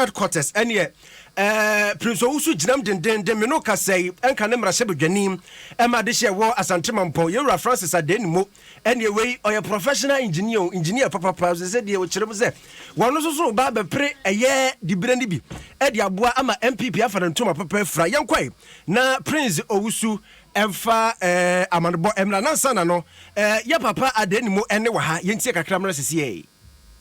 headquarters ɛneɛ ɛɛ Prince Owusu gyinam dendenden me no kasa yi ɛnka ne mmarahyɛbadwani ɛma adehyeɛ ɛwɔ Asante Mampɔn Yɛwura Francis Adenimo ɛneɛ wei ɔyɛ professional engineer o engineer papapa sɛ sɛ deɛ ɔkyerɛ mu sɛ wɔn nso so ba abɛpere ɛyɛ dibire no bi ɛde aboa ama NPP afa ne ntoma papa afira yɛnkɔe na Prince Owusu ɛmfa ɛɛ amanebɔ ɛmra nansa na no ɛɛ yɛ papa Adenimo ɛne wɔ ha yɛntie kakra mmra sisi ɛɛ.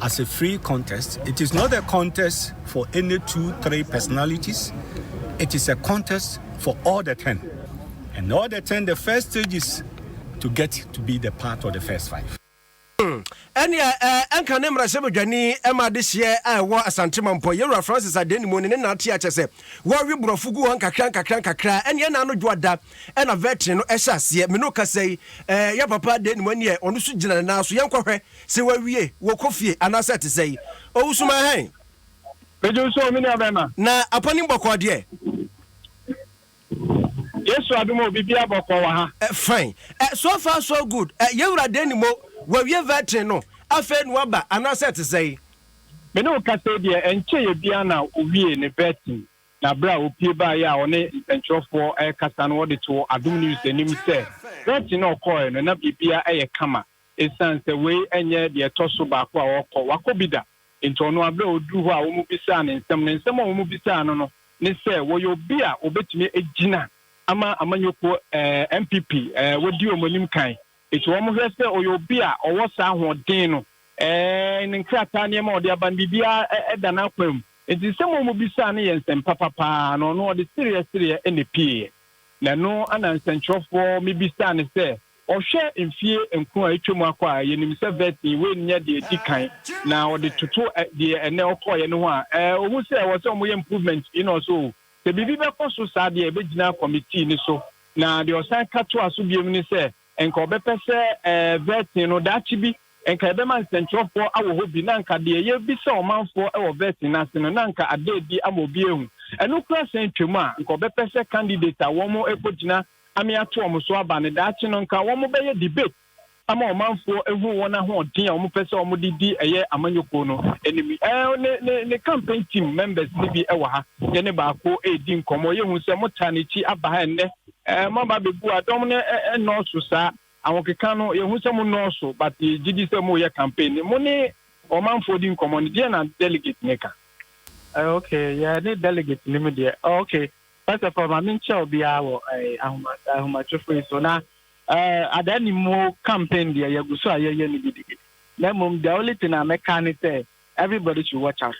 as a free contest, it is not a contest for any two, three personalities, it is a contest for all the ten. And all the ten, the first stage is to get to be the part of the first five. Hmm. Ɛnea ɛnka ne mmarahyɛbadwani ma adehyeɛ a ɛwɔ Asante Mampɔ, Yɛwura Francis Adenimu ne ne nante akyɛ sɛ wɔwe borɔfo gu hɔ nkakra nkakra nkakra. Ɛnea ɛna ano dwoada ɛna vɛtin no ɛhyɛ aseɛ. Mene ɔkasa yi, yɛ papa Adenimu ɛneɛ ɔno so gyina ne nan so. Yɛnkɔhwɛ Se wawie, wɔkɔ fie anaasɛ ɛte sɛn? Owusuman ahen? Megye wo so o, me nua bɛrima. Na apanim bɔkɔɔ deɛ? Yesu adom o, biribiara bɔkɔɔ wɔ ha. Fine. So far so good. Yɛn wura deɛ nim o, wawie vetting no, afei na waba anaasɛ ɛte sɛn? Me ne wo kasa yi deɛ, ɛnkyɛeɛ biara na ɔwiee ne vetting, na berɛ a ɔpue baeɛ a ɔne nsɛntwerɛfoɔ rekasa no, wɔde too Adom News anim sɛ vetting a ɔkɔeɛ no, na biribiara yɛ kama. Esiane sɛ wei nyɛ deɛ ɛtɔ so baako a ɔrekɔ, wakɔ bi da nti, ɔno ara berɛ a ɔduruu hɔ a wɔbisaa no nsɛm no, nsɛm a wɔbisaa no no ne sɛ wɔyɛ obi a wɔbɛtumi agyina ama amanyɔkuo NPP wɔadi wɔn anim kan nti wɔhwɛ sɛ ɔyɛ obi a ɔwɔ saa ahoɔden no, ne nkrataa nneɛma a ɔde aba no biribiara da n'akwan mu nti nsɛm a wɔbisaa no yɛ nsɛm papa paa na ɔno ɔde sereɛ sereɛ na ɛpieeɛ. Na ɛno na nsɛntwerɛfoɔ mebisaa no sɛ Ɔhwɛɛ mfeɛ nkron a atwam akɔ a yɛnim sɛ Verteen Wayne nyɛ deɛ ɛdi kan na ɔde toto deɛ ɛnnɛ ɔkɔeɛ no ho a, ɛɛ, ɔhu sɛ ɛwɔ sɛ wɔyɛ improvements pii na ɔse oo, sɛ biribi bɛkɔ so saa deɛ ɛbɛgyina kɔmitii no so. Na deɛ ɔsan ka toaa so biom ne sɛ nka ɔbɛpɛ sɛ ɛɛ, Verteen no daakye bi nka yɛbɛma nsɛntwerɛfoɔ awɔ hɔ bi na anka deɛ yɛbisa ɔmanfoɔ wɔ Verteen no ase no na anka ada adi ama obi ahu ɛno koraa san atwam a nka ɔbɛpɛ sɛ candidate a wɔn rekɔgyina ame ato wɔn so aba no, daakye no nka wɔbɛyɛ debate ama ɔmanfoɔ ahu wɔn ahoɔden a wɔpɛ sɛ wɔde di ɛyɛ amanyɔkuo no anim. Ɛɛ ne, ne, ne campaign team members no bi wɔ ha. Yɛne baako redi nkɔmmɔ. Yɛhu sɛ motaa n'akyi aba ha ɛnnɛ. Ɛɛ moaba bɛbu a, dɔm no nnɔɔso saa. Ahokeka no, yɛhu sɛ mo nnɔɔso, but yɛgye di sɛ moreyɛ campaign no. Mo ne ɔmanfoɔ di nkɔmmɔ no, deɛ na delegate no ka? Uh, okay, yeah, ne delegate no mu deɛ. Oh, okay, First of all, ma menkyɛ obiara wɔ ahomatrofo yi so na adaa ni mu campaign deɛ yɛgu so a yɛyɛ no gidigidi. Na mmom the only thing a mɛka ne sɛ everybody should watch out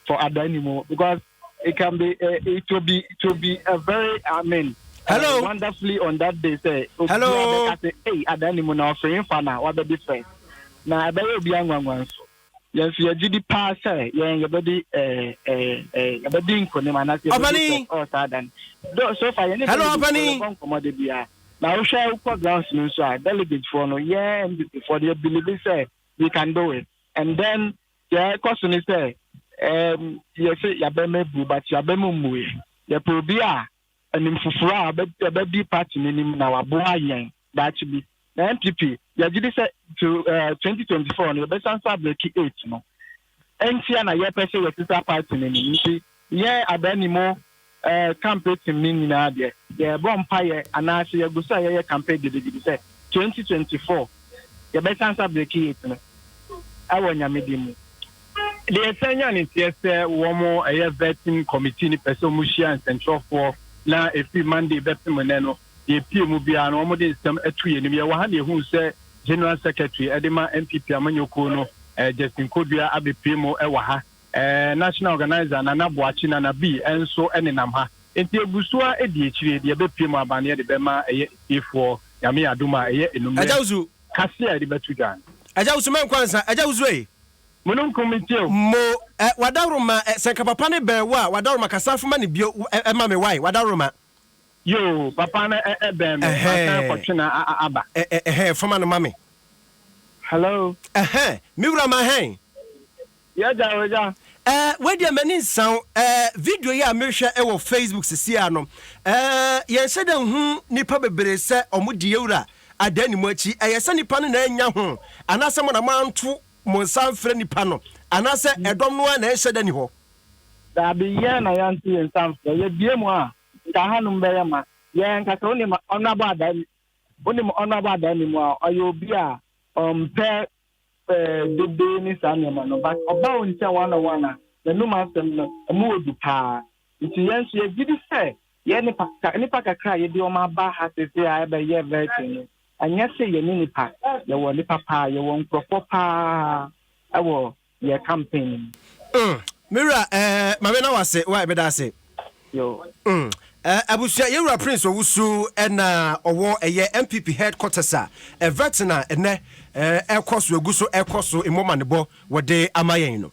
for adaa ni mu because it can be uh, it will be it will be a very I mean uh, Hello. Uh, wonderfully on that day say Hello. Obiara bɛka sɛ hey adaa ni mu na ɔfiri nfa na wabɛdi first na ɛbɛyɛ obiara nwanwa nso. Yes, yɛ gye di paa sɛ yɛn yɛbɛdi ɛɛ ɛɛ ɛɛ yɛbɛdi nkonim anaasɛ yɛbɛdi sɛ ɔɔ saa dan. Do so far yɛn ne delegatefoɔ yɛbɔ nkɔmɔ de bia na wohwɛ wokɔ grounds no nso a delegatefoɔ no yɛn MDCfoɔ no yɛ believe sɛ we can do it and then deɛ ɛkɔ so ne sɛ ɛɛm yɛse yɛabɛm abu but yɛabɛm mmuiɛ yɛpɛ obi a anim foforɔ a ɔbɛdi party no anim na waboa yɛn daakye bi. Na NPP, yɛgye di sɛ till eh, 2024 no yɛbɛsan so abreki eight no. Ɛntia na yɛpɛ sɛ yɛsesa party no anim. Nti yɛn Adaanimo eh, campaign team no nyinaa deɛ, yɛbɔ mpaeɛ anaasɛ yɛgu so a yɛyɛ campaign gidigidi sɛ 2024 yɛbɛsan so abreki eight no ɛwɔ Nyame din mu. Deɛ ɛsan nya ne teɛ sɛ wɔn ɛyɛ vetting committee no pɛ sɛ wɔhyia nsɛnkyerɛwfoɔ na ɛfiri Monday bɛpem nnɛ no. deɛ epie mu biara no wɔde nsɛm atu yɛn anim. Yɛwɔ ha na yɛhuu sɛ General Secretary de ma NPP amanyɔkuo no, eh, Justin Kodua abɛpue mu wɔ ha. Eh, National Organizer Nana Boakye, Nana B, nso nenam ha. Enti ɛgu so ara di akyire, deɛ ɛbɛpue mu aba no yɛde bɛma ɛyɛ atiefoɔ, Nyame yɛ adom a, ɛyɛ anummerɛ kaseɛ a yɛde bɛto dwa no. Agya Wusu mɛ nkwa nsa, Agya Wusu ei. Mununkum mi tie o. Mo eh, Wadawroma eh, sɛ nka papa ne bɛn wo a, Wadawroma kasa foma ne bio eh, eh, ma me wae, Wadawroma. Yoo papa no ɛbɛn me masan kɔ twe na aba. Ɛhɛn fama no ma me. Hello. Ɛhɛn me wura ma hɛn. Yɛ gya wɔ gya. Ɛɛ wei deɛ m'ani nsa o ɛɛ video yi a mehwɛ wɔ Facebook sisi a no ɛɛ yɛn hyɛ dɛ nhu nipa bebree sɛ wɔn di yɛwura adan ne mu akyi ɛyɛ sɛ nipa no na ɛnya ho anaasɛ mo na mo anto mo nsa mfrɛ nipa no anaasɛ ɛdɔm no ara na ɛnhyɛ dɛ ni hɔ. Daabi, yɛn na yɛnto yɛn nsa mfrɛ. Yɛbue mu a, nka hanom bɛyɛ ma yɛn ankasa. Wonim Honourable Adaani? Wonim Honourable Adaani mu a, ɔyɛ obi a ɔmpɛ eh, dede ne saa nneɛma no, but ɔba wo nkyɛn one on one a, n'anum asɛm no, ɛmu wɔ du paa. Nti yɛn nso yɛgye di sɛ yɛn nipa, ka, nnipa kakra a yɛde wɔn aba ha seesei a ɛbɛyɛ vetting no, ɛnyɛ sɛ yɛne nnipa, yɛwɔ nnipa paa, yɛwɔ nkurɔfoɔ paa ɛwɔ yɛ campaign no mu. Mm, me wura, eh, mame na wase, why, meda ase. Yo. Mm, eh, abusua, yɛwura Prince Owusu, ɛna ɔwɔ ɛyɛ MPP headquarters a, ɛvɛtin a ɛnɛ, eh, ɛkɔ so, egu so, ɛkɔ so, mmɔmanebɔ, wɔde ama yɛn no.